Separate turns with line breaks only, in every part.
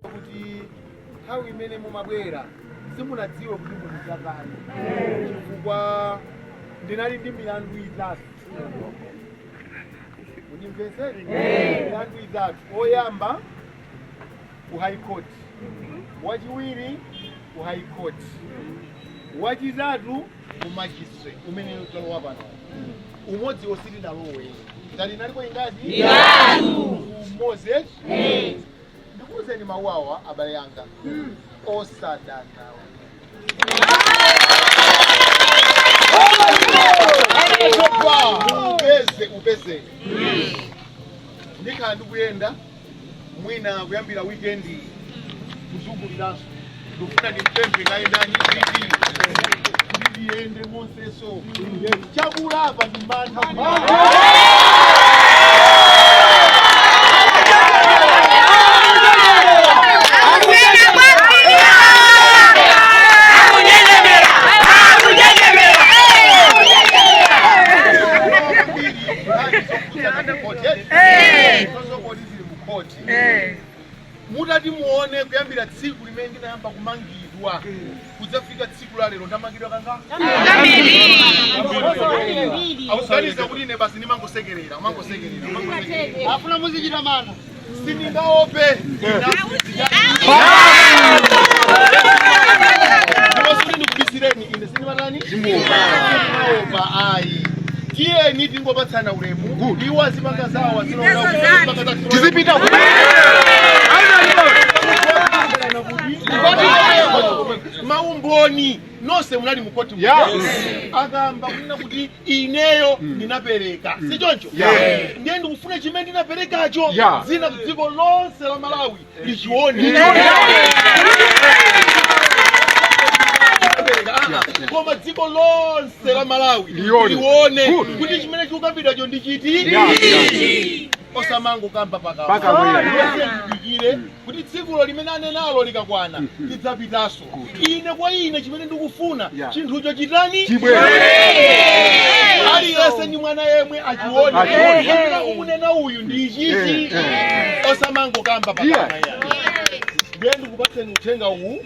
kuti nthawi imene mumabwera simunadziwa kuti mukudzatani chifukwa ndinali ndi milandu itatu kundimvetsera milandu itatu oyamba ku high court wachiwiri ku high court wachitatu ku magistrate umene talowa pano umodzi osatidalowe ngati inalipo ingati itatu. umodzi eti ndikuuzeni mawu awa abale anga osadanawo upeze upeze ndikhala ndikuyenda mwina kuyambira weekend iyi kuzunguliranso ndikufuna ndimpemphe naye ndani kuti kuti ndiyende monsemo chakulapa ndi mantha zokoti zili mu khoti Eh. mutati muone kuyambira tsiku limene ndinayamba kumangidwa kudzafika tsiku la lero ndamangidwa kangati akuganiza kuti ine basi ndimangosekerera umangosekerera umangosekerera. afuna muzichita mantha sindingaope ndinazindikira. Ndipo sikuti ndikubisireni ine sindimatani sindimaopa ayi tiyeni tingopatsana ulemu iwo azipanga zawo azilowera tizipita ku- maumboni nonse munali mukoti Yeah. akamba kunena kuti ineyo ndinapereka si choncho Yeah. ndiye ndikufuna chimene ndinaperekacho Yeah. ndi dziko lonse la malawi ndichione koma dziko lonse la malawi Lione. lione Good. kuti chimene chikukambidwacho ndi chiti Yeah. osamangokamba Pakamwa pakamwa. pakamwa Ndiye tidikire kuti tsikulo limene anenalo likakwana tidzapitanso ine kwa ine chimene ndikufuna Yeah. chinthucho chitani Chibwere. aliyense ndi mwana yemwe achione Achione. Kapena kukunena uyu ndi ichichi Eh, osamangokamba Yeah. pakamwa ayi ndiye ndikupatseni uthenga uwu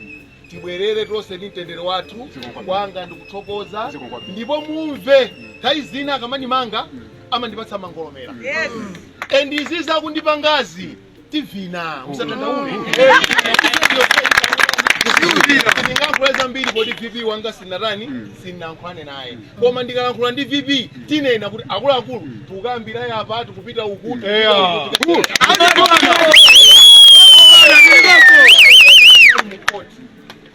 tibwerere tonse ndi mtendere wathu Zikomo. kwanga ndikuthokoza Zikomo kwambiri. ndipo mumve nthawi zina akamandimanga amandipatsa mangolomera and izi zakundipangazi tivina musadandaule ndingalankhula zambiri kodi vp wanga sinatani sinalankhulane naye koma ndikalankhula ndi vp tinanena kuti akuluakulu tikukumana apa tikupita uku tikupita uku, tikupita uku.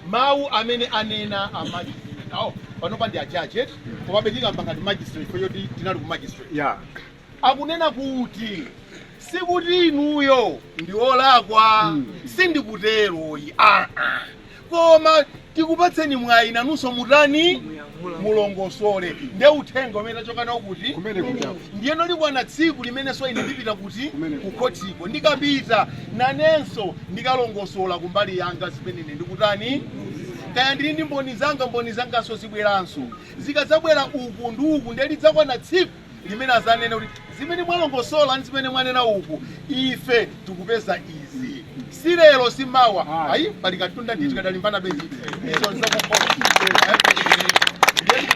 mawu amene anena a magistrate awo panopa ndi ajaji eti komabe tikamba ngati magistrate poti tinali ku magistrate Yeah. akunena kuti sikuti inuyo ndinu olakwa sindikutero ayi aa koma tikupatseni mwayi inunso mutani mulongosole nde uthenga umene tachoka nawo kuti. ndiyeno likwana tsiku limenenso ine ndipita kuti ku khotiko ndikapita nanenso ndikalongosola kumbali yanga zimene ine ndikutani kaya ndili ndi mboni zanga mboni zanganso zibweranso zikadzabwera uku ndi uku nde lidzakwana tsiku limene adzanene kuti zimene mwalongosola ndi zimene mwanena uku ife tikupeza izi si lero si mawa ayi pali katunda nditi kadalimbana bezi izo nzakukhola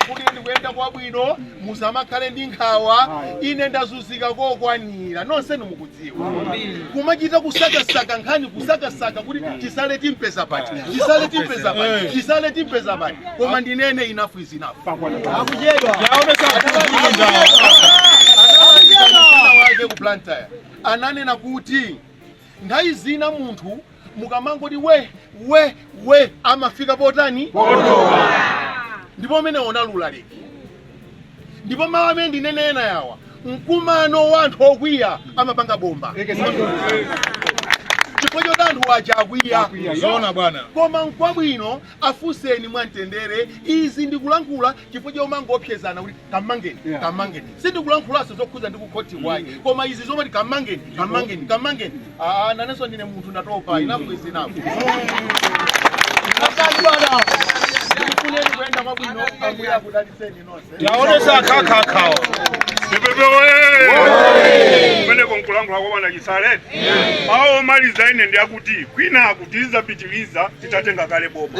kuti ndikuyenda kwabwino musamakhale ndi nkhawa ine ndazunzika kokwanira nonsenu mukudziwa mukudziwa kumachita kusakasaka nkhani kusakasaka kuti Chisale timpeza pati Chisale timpeza pati Chisale timpeza pati koma ndinene enough is enough wake ku Blantyre ananena kuti nthawi zina munthu mukamangoti we we we amafika potani Potopa. ndipo umene umalula break ndipo mawu amene ndinene ena yawa mkumano wa anthu okwiya amapanga bomba chifukwa choti anthu aja akwiya Zoona bwana. koma nkwabwino kuwafunsa afunseni mwamtendere izi ndikulankhula chifukwa chomangoopsezana kuti kamangeni Yeah. kamangeni sindikulankhulanso zokhudza ndi kukhoti ayi koma izi zomati kamangeni kamangeni kamangeni aa nanenso ndine munthu ndatopa enough is enough akali bana ndikufunireni kuyenda kwabwino ambuye akudalitseni nonse taonesa akhakhakhawa pepepe oye kumeneko nkulankhula kwa bwana chisale awo omaliza ine ndi akuti kwinaku tidzapitiliza titatenga kale boma